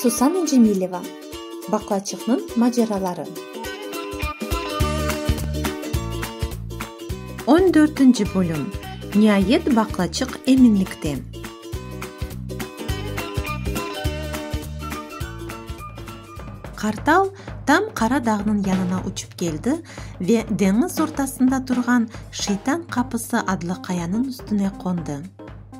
Susana Cemileva, Baqlaçıqnıñ maceraları. On dörtünci bölüm, Niayet baqlaçıq eminlikte. Qartal tam Qara dağnıñ yanına uçıp keldi ve deñiz ortasında turğan Şeytan qapısı adlı qayanıñ üstüne qondı.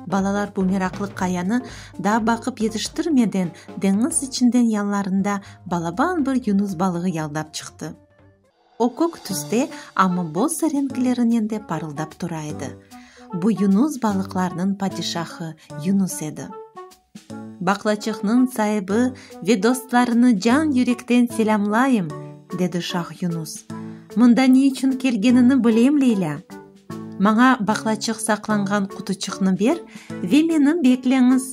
Balalar bu meraqlı qayanı daa baqıp yetiştirmeden deñiz içinden yanlarında balaban bir yunus balığı yaldap çıqtı. O kök tüste, amma boz renklerinen de parıldap tura edi. Bu yunus balıqlarnıñ padişahı Yunus edi. Baqlaçıqnıñ saibi ve dostlarını can-yürekten selâmlayım, dedi şah Yunus. Mında ne içün kelgenini bilem, Leylâ. Maña baqlaçıq saqlanğan qutuçıqnı ber ve meni bekleñiz.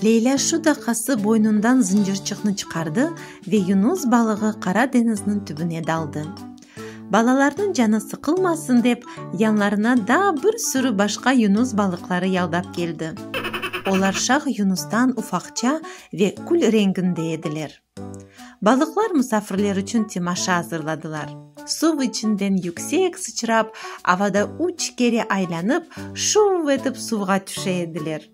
Leylâ şu daqası boynundan zıncırçıqnı çıqardı ve yunus balığı Qara deñizniñ tübüne daldı. Balalarnıñ canı sıqılmasın dep, yanlarına daa bir sürü başqa yunus balıqları yaldap keldi. Olar şah yunustan ufaqça ve kül renginde ediler. Balıqlar musafirler içün temaşa azırladılar. Suv içinden yüksek sıçrap, avada üç kere aylanıp, şuv etip suvğa tüşe ediler.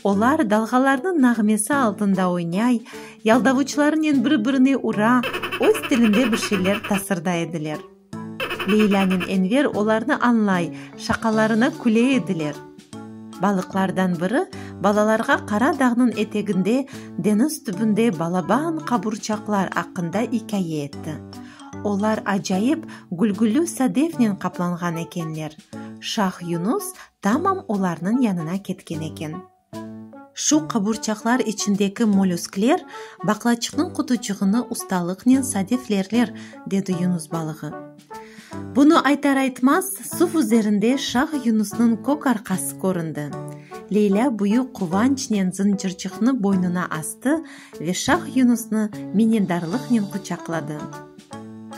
Olar dalğalarnıñ nağmesi altında oynay, yaldavuçlarınen bir-birine ura, öz tilinde bir şeyler tasırday ediler. Leylânen Enver olarnı añlay, şaqalarına küle ediler. Balıqlardan biri balalarğa Qara dağnıñ eteginde, deñiz tübünde balaban qaburçaqlar aqqında ikâye etti. Olar acayip gülgüllü sadefnen qaplanğan ekenler. Şah Yunus tamam olarnıñ yanına ketken eken. Şu qaburçaqlar içindeki molüskler baqlaçıqnıñ qutucığını ustalıqnen sadeflerler, dedi yunus balığı. Bunı aytar-aytmaz, suv üzerinde şah yunusnıñ kök arqası köründi. Leylâ büyük quvançnen zıncırcıqnı boynuna astı ve Şah Yunusnı minnetdarlıqnen quçaqladı.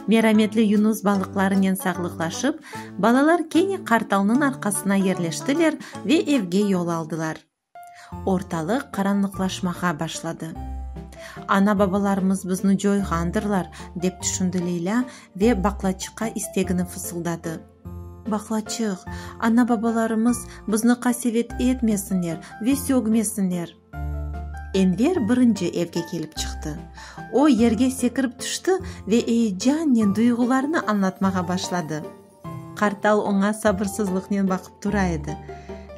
Merametli Yunus balıqlarınen sağlıqlaşıp, balalar kene qartalnıñ arqasına yerleştiler ve evge yol aldılar. Ortalıq qaranlıqlaşmağa başladı. Ana-babalarımız bizni coyğandırlar, dep tüşündi Leylâ ve baqlaçıqqa istegini fısıldadı. Baqlaçıq, ana-babalarımız bizni qasevet etmesinler ve sögmesinler! Enver birinci evge kelip çıqtı. O, yerge sekirip tüşti ve eyecannen duyğularını añlatmağa başladı. Qartal oña sabırsızlıqnen baqıp tura edi.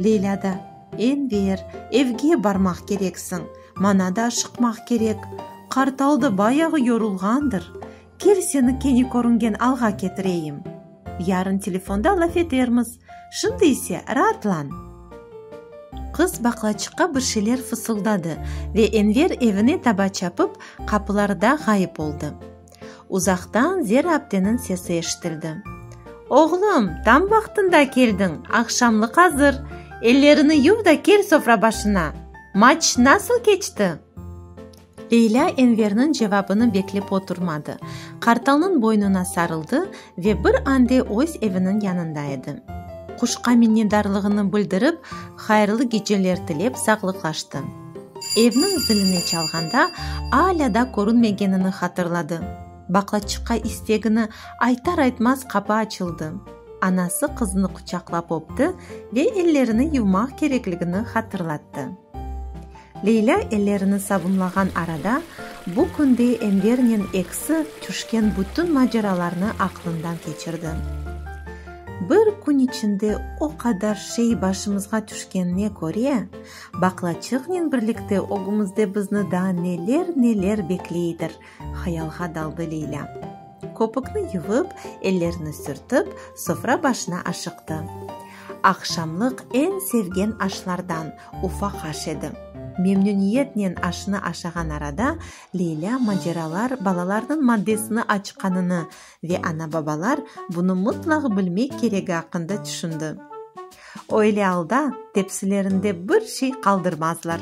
Leyla da, Enver, evge barmaq kereksiñ, mana da aşıqmaq kerek. Qartal da bayağı yorulğandır. Kel, seni kene körüngen alğa ketireyim. Yarın telefonda laf etermiz, şimdi ise raatlan. Qız baqlaçıqqa bir şeyler fısıldadı ve Enver evine taba çapıp, qapılarda ğayıp oldı. Uzaqtan Zera apteniñ sesi eşitildi. Oğlum, tam vaqtında keldiñ, aqşamlıq azır, ellerini yuv da kel sofra başına. Maç nasıl keçti? Leylâ Enverniñ cevabını beklep oturmadı, qartalnıñ boynuna sarıldı ve bir ande öz eviniñ yanında edi. Quşqa minnetdarlığını bildirip, hayırlı geceler tilep sağlıqlaştı. Evniñ zilini çalğanda alâ da körünmegenini hatırladı. Baqlaçıqqa istegini aytar-aytmaz qapı açıldı. Anası qızını quçaqlap öpti ve ellerini yuvmaq kerekligini hatırlattı. Leylâ ellerini sabunlağan arada, bu künde Envernen eksi tüşken bütün maceralarnı aqlından keçirdi. Bir kün içinde o qadar şey başımızğa tüşkenine köre, baqlaçığnen birlikte ögümizde bizni daa neler-neler bekleydir, hayalğa daldı Leylâ. Köpükni yuvıp, ellerini sürtip, sofra başına aşıqtı. Aqşamlıq eñ sevgen aşlardan, ufaq aş edi. Memnüniyetnen aşnı aşağan arada Leylâ maceralar balalarnıñ maddesini açqanını ve ana-babalar bunı mıtlaq bilmek keregi aqqında tüşündi. Öyle alda tepsilerinde bir şey qaldırmazlar.